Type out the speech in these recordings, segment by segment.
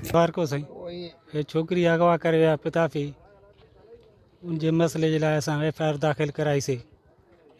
سارڪو سائين هي ڇوڪري اغوا ڪري ويا پتا ٿي ان جي مسئلي جي لاء اسان ايف آء آر داخل ڪرائي سي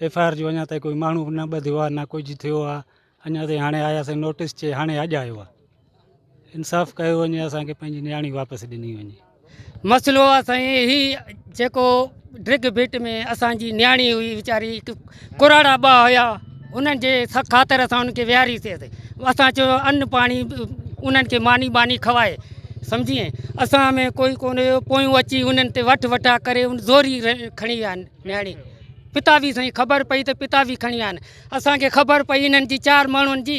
ايف آء آر جو اڃا تائين ڪوئي ماڻهو نه ٻڌيو آ نه ڪجهه ٿيو آ اڃا تائين هاڻي آيا سي نوٽس چي هاڻي اڄ آيو آ انصاف ڪيو وڃي اسان کي پنهنجي نياڻي واپس ڏني وڃي مسئلو آ سائين هي جيڪو ڊرگ بيٽ ۾ اسان جي نياڻي هئي ويچاري ڪراڙا ٻا هيا انهن جي خاطر اسان انهن کي ويهاريسي اسان چيو ان پاڻي انهن کي ماني باني کائي سمجھي اسان ۾ ڪوئي ڪون هيو پويون اچي انهن تي وٺ وٺا ڪري ان زوري کڻي ويا نياڻي پتا به سائين خبر پئي ته پتا به کڻي ويا آهن اسان کي خبر پئي انهن جي چار ماڻهن جي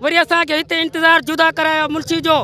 وري اسان کي هتي انتظار جدا ڪرايو منشي جو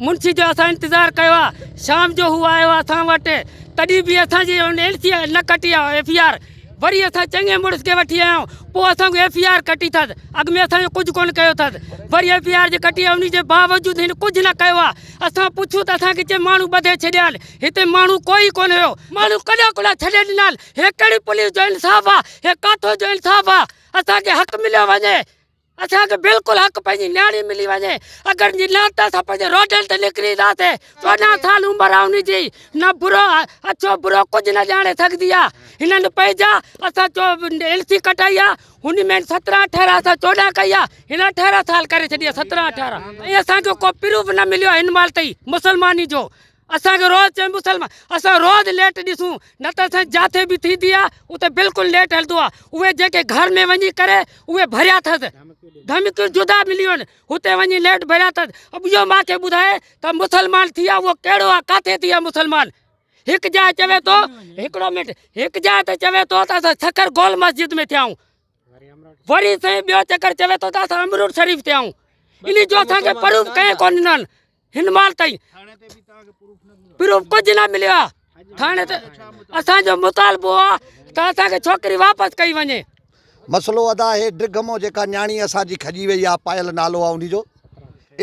منشي جو اسان انتظار ڪيو آ شام جو هو آيو آ اسان وٽ تڏي به اسان جي ان ايل سي نه ڪٽي آ ايف اي آر وري اسان چڱي مڙس کي وٺي آيا پو اسان کي ايف اي آر ڪٽي ٿد اڳ ۾ اسان جو ڪجھ ڪون ڪيو ٿد وري ايف اي آر جي ڪٽي ان جي باوجود هن ڪجھ نه ڪيو آ اسان پڇيو ته اسان کي چي ماڻو ٻڌي ڇڏيا هتي ماڻو ڪوئي ڪون هيو ماڻو ڪڏا ڪڏا ڇڏي ڏنا هي ڪهڙي پوليس جو انصاف آ هي ڪاٿو جو انصاف آ اسان کي حق مليو وڃي. اسان کي بلڪل حق پنهنجي نياڻي ملي وڃي اگر جي نه ته اسان پنهنجي روڊن تي نڪري اينداسين چوڏهن سال عمر آهي ان جي نه برو اڇو برو ڪجهه نه ڄاڻي سگهندي آهي هنن پنهنجا اسان جو ايل سي ڪٽائي آهي ان ۾ سترهن اٺارهن اسان چوڏهن ڪئي آهي هن اٺارهن سال ڪري ڇڏي آهي سترهن اٺارهن ۽ اسان جو ڪو پروف نه مليو آهي هن مهل تائين مسلماني جو اسان کي روز چئي مسلمان اسان روز ليٽ ڏسون نه ته سائين جاٿي به ٿيندي آ اتي بلڪل ليٽ هلندو آ اهي جيڪي گهر ۾ وڃي ڪري اهي ڀريا ٿس ڌمڪيون جدا مليون هتي وڃي ليٽ ڀريا ٿس اب اهو مان کي ٻڌائي ته مسلمان ٿي آ اهو ڪهڙو آ ڪاٿي ٿي آ مسلمان هڪ جاء چوي ٿو هڪڙو منٽ هڪ جاء ته چوي ٿو ته اسان سکر گول مسجد ۾ ٿيا آهون وري سائين ٻيو چڪر چوي ٿو ته اسان امرور شريف ٿيا آهون انهي جو اسان کي پروف ڪنهن ڪون ڏنن هن مال تائين پروف ڪجهه نه مليو آ ٿاڻي تي اسان جو مطالبو آ ته اسان کي ڇوڪري واپس ڪئي وڃي مسئلو ادا هي ڊرگه مو جيڪا نياڻي اسان جي کڄي وئي آ پايل نالو آ انهي جو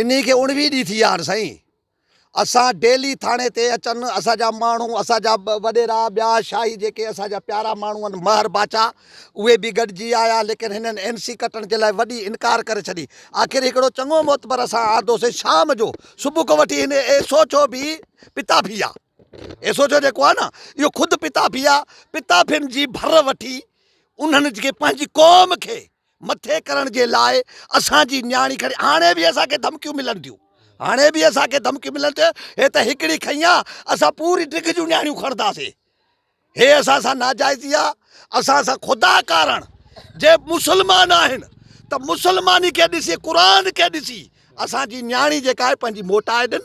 انهي کي اڻويهه ڏينهن ٿي ويا آهن سائين اسان ڊيلي ٿاڻي تي اچن اسان جا ماڻهو اسان جا وڏيرا ٻيا شاهي جيڪي اسان جا پيارا ماڻهو آهن مهر باچا اهي به گڏجي آيا، ليڪن هنن اين سي ڪٽڻ جي لاء وڏي انڪار ڪري ڇڏي. آخر هڪڙو چڱو معتبر اسان آردو سين شام جو صبح کان وٺي هن ايسوچو به پتا پيئا. ايسوچو جيڪو آهي نه، اهو خود پتا پيئا. پتا پين جي ڀر وٺي انهن جي پنهنجي قوم کي مٿي ڪرڻ جي لاء اسان جي نياڻي کڻي هاڻي به اسان کي ڌمڪيون ملن ٿيون، هاڻي به اسان کي ڌمڪيون ملن ٿيون. هي ته هڪڙي کنئي آ، اسان پوري ڊگهه جون نياڻيون کڻنداسين. هي اسان سان ناجائزي آ اسان سان خدا ڪارڻ جي مسلمان آهن ته مسلماني کي ڏسي قرآن کي ڏسي اسان جي نياڻي جيڪا آهي پنهنجي موٽائي ڏن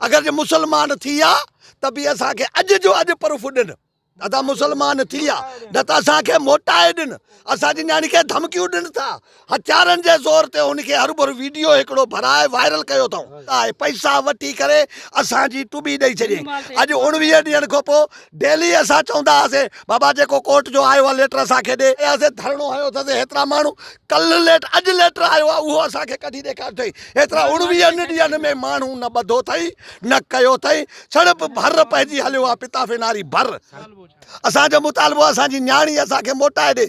اگر جي مسلمان ٿي آ ته به اسان کي اڄ جو اڄ پروف ڏن ادا مسلمان ٿي آ نه ته اسان کي موٽائي ڏن اسان جي نياڻي کي ڌمڪيون ڏن ٿا هٿيارن جي زور تي هن کي هربھر ويڊيو هڪڙو ڀرائي وائرل ڪيو اٿئون ۽ پئسا وٺي ڪري اسان جي ٽٻي ڏئي ڇڏي اڄ اوڻويهه ڏينھن کان پوء ڊيلي اسان چوندا هئاسين بابا جيڪو ڪورٽ جو آيو آ ليٽر اسان کي ڏي اسين ڌرڻو هنيو اٿس هيترا ماڻھو ڪلھ ليٽر اڄ ليٽر آيو آ اهو اسان کي ڪڍي ڏيکار اٿئي هيترا اوڻويهن ڏينھن ۾ ماڻھو نه ٻڌو اٿئي نه ڪيو اٿئي سڙپ ڀر پئجي هليو آ پتافي ناري ڀر اسان جو مطالبو آ اسان جي نياڻي اسان کي موٽائي ڏي.